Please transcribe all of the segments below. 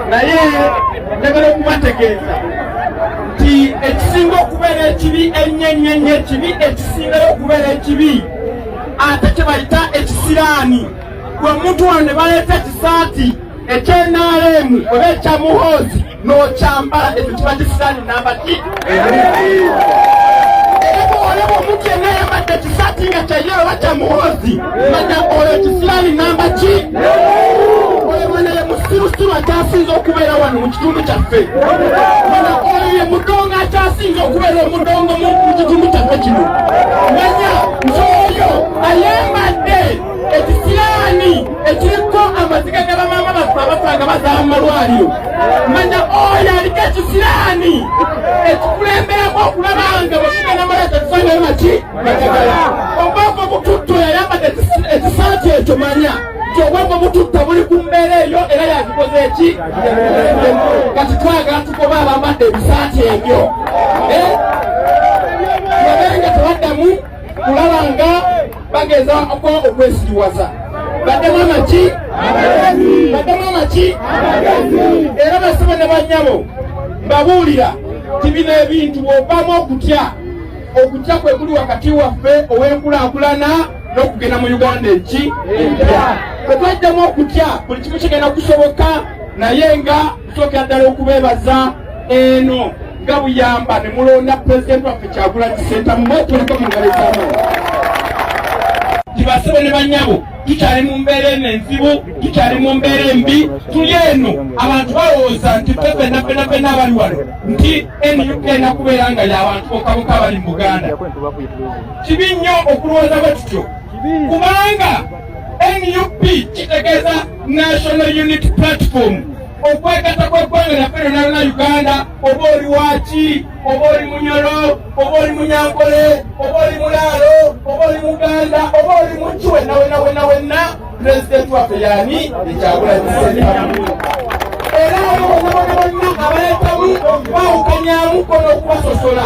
naye njagala okubategeeza nti ekisinga okubeera ekibi ennyo ennyo ennyo ekibi ekisingayo okubeera ekibi ate kye bayita ekisiraani gwe omuntu wano ne baleeta ekisaati ekyenaalemu oba ekyamuhoozi nokyambala ekyo kiba kisaani namba ki olaba omuntu yenna yambadde ekisaati nga kyayera oba kya muhoozi manya oyo kisiraani namba ki oyo mwana ye musirusiru akyasinza okubeera wano mu kitundu kyaffe mwana oyo ye mudongo akyasinza okubeera omudongo mu kitundu kyaffe kino manya nti oyo ayambadde ekisiyaani ekiriko amaziga ga bamaama baffe abasanga bazaala mu malwaliro manya oyo aliko ekisiyaani ekikulemberamu okulaba nga bwekigenda malaika tusangayo naki batagala obwongo bututto yayambadde ekisaati ekyo manya nti obwongo bututta buli ku mbeera eyo era yakikoze eki kati twagala tukoba abambadde ebisaati ebyo eh? kulaba nga bageza okwa okwesiriwaza baddemu amaki baddemu amaki era basibe ne bannyabo mbabuulira ti bino ebintu bwovamu okutya okutya kwe kuli wakati waffe ow'enkulaakulana n'okugenda mu uganda eki empya bwe twajjamu okutya buli kimu kigenda kusoboka naye nga Tusookera ddala okubeebaza eno nga buyamba ne mulonda pulezidenti waffe Kyagulanyi Ssentamu mwetuliko mu ngalo ezaamaanyi tibasebo ne bannyabo tukyali mu mbeera eno enzibu tukyali mu mbeera embi tuli eno abantu balowooza nti fe fenna fenna fenna abali wano nti nup ena kubeera nga yabantu bokaboka abali mu buganda kibi nnyo okulowooza bwe tutyo kubanga nup kitegeeza national unity platform okwegata kweggwanga naffe lyonalina uganda oba oli waki oba oli munyolo oba oli munyankole oba oli mulaalo oba oli muganda oba oli muki wenna wenna wenna wenna pulezidenti waffe yani ekyakulanyisaamu era abo bonna bonna bonna abaleetamu okubawukanyamu kona okubasosola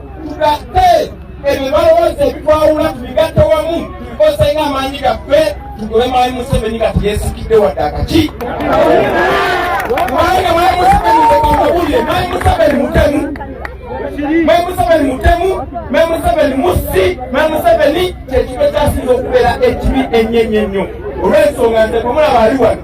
tugatte ebyo balowooza ebitwawula tubigatte wamu tubikozesa nga amaanyi gaffe tugobe mwami museveni nga teyesikidde wadde akaki kubanga mwami museveni ekamabulire mwami museveni mutemu mwami museveni mutemu mwami museveni musi mwami museveni kyekibe kyasinza okubeera ekibi ennyo ennyo ennyo olw'ensonga nze kumulaba ali wano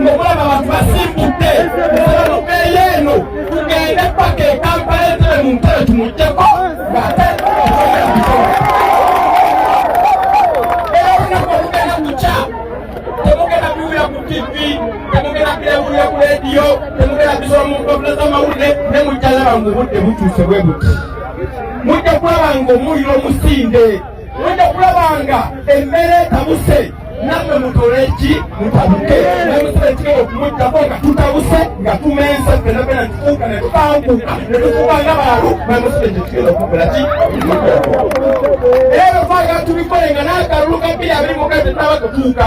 ngokulaba abantu basimbudde eyo tugende paka ekampala etebe mu ntebe tumugyeko ngate era olunaku olugenda kukya temugenda biwulira ku tivi temugenda birewulira ku rediyo temugenda bisoma mu mpapula z'amawulire ne mujja laba ng'obudde butuuse bwe buti mujja kulaba ng'omuliro musinde wenda kulabanga emmere etabuse namwe mutole ki mutabuke namusaba ekigenda okumuddako nga tutabuse nga tumensa fena fena ntufuuka ne tukanguka ne tufuuka nga baalu namusaba ekyo kigenda okukola ki era befaaga tubikole nga n'akalulu ka bbiri abiri mukati taba kutuuka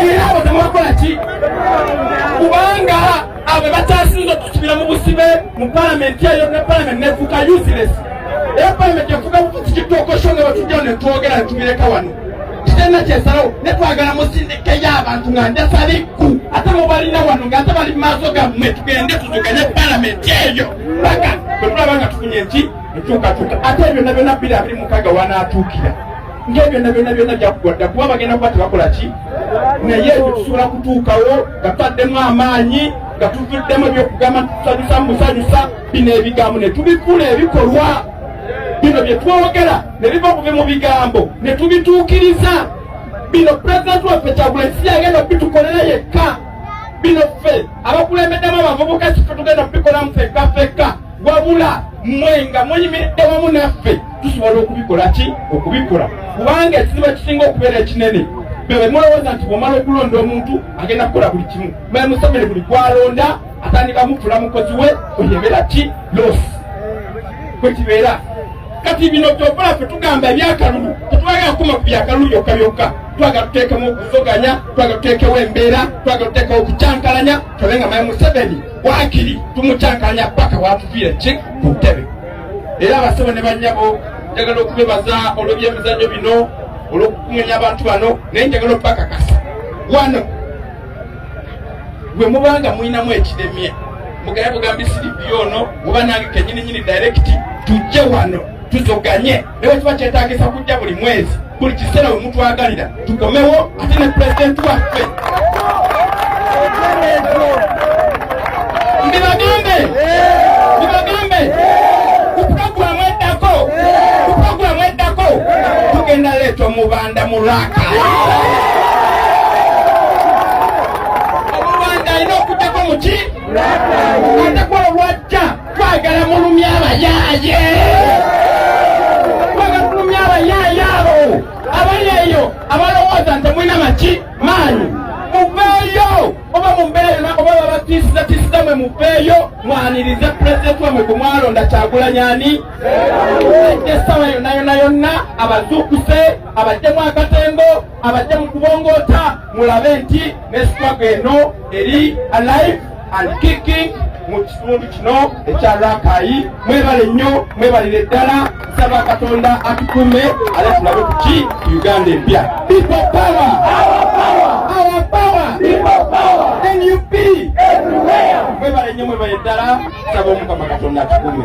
era abo temubakola ki kubanga abo batasinza okusubira mu busibe mu palamenti eyo ne palamenti nefuuka useless era palamenti efuuka kukitokosho nga batujja netwogera netubireka wano kitenna kyesalawo netwagala musindikeyo abantu nga ndasabikku ate mubalina wano nga ate bali maaso gammwe tugende tuzukanye palamenti eyo paka bwetulaba nga tufunye nki enkyukakyuka ate ebyo nabyona biri abiri mukaga wanaatuukira nga ebyonna byonna byonna byakuwa dda kuba bagenda kuba tebakola ki naye ebyo tusobola kutuukawo nga tutaddemu amaanyi nga tuvuddemu ebyokugamba tusanyusa musanyusa bino ebigambo ne tubifuula ebikolwa bino bye twogera ne biva kuve mu bigambo ne tubituukiriza bino pulezidenti waffe kyagulanyi si yagenda okubitukolera yekka bino ffe abakulembeddemu abavubuka sife tugenda okubikolamu fekka fekka wabula mmwe nga muyimiridde wamu naffe tusobola okubikola ki okubikola kubanga ekizibu ekisinga okubeera ekinene bebe mulowooza nti bwomala okulonda omuntu agenda kukola buli kimu mwe museveni buli gwalonda atandika mufula mukozi we oyebera ki losi kwekibeera kati bino byokola fe tugamba ebyakalulu tetwagala kukoma ku byakalulu byokka byokka twagala tuteekemu okuvuganya twagala tuteekewo embeera twagala tuteekewo okucankalanya tole nga mayi museveni wakiri tumucankalanya paka watuviira ki ku ntebe era abasebo ne banyabo njagala okubebaza olw'ebyemizannyo bino olw'okukumenya abantu bano naye njagala okubakakasa wano bwe mubanga mulinamu ekiremye mugaya bugambi siripi ono oba nange kenyininyini direkiti tujje wano tuzoganye ne bwe kiba kyetagisa kujja buli mwezi buli kiseera we mutwagalira tukomewo ate ne pulezidenti waffe ndibagambe ndibagambe ku pulogulamu eddako ku pulogulamu eddako tugenda leeta omubanda mu lwaka omubanda alina okujjako muki atakola lwajja Twagala mulumya abayaaye. Twagala mulumya abayaaye abo. Abali eyo abalowooza nti mulina maki maanyi. Muveeyo oba mubeere na oba babatiisiza tiisiza mwe muveeyo mwanirize pulezidenti wamwe gwe mwalonda Kyagulanyi ani. Ajja essaawa yonna yonna yonna abazuukuse abaddemu akatengo abadde mu kubongoota mulabe nti ne sitwago eno eri alive and kicking mu kitundu kino ekya rakayi mwebale nnyo mwebalire ddala nsaba katonda atukume ale tulabe kuki ku uganda empya people power our power our power people power nup everywhere mwebale nnyo mwebale ddala Saba omukama katonda atukume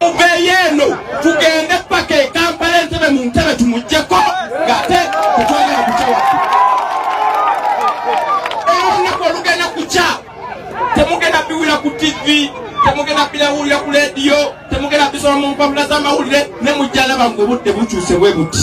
muveeyo eno tugende paka ekampala entebe mu ntebe tumugjeko ngate kutwagala kucawa olunaku olugenda kukya temugenda biwulira ku tivi temugenda birawulira ku lediyo temugenda bisoma mu mpapula z'amawulire ne mujja alaba ng'obudde bukyuse bwe buti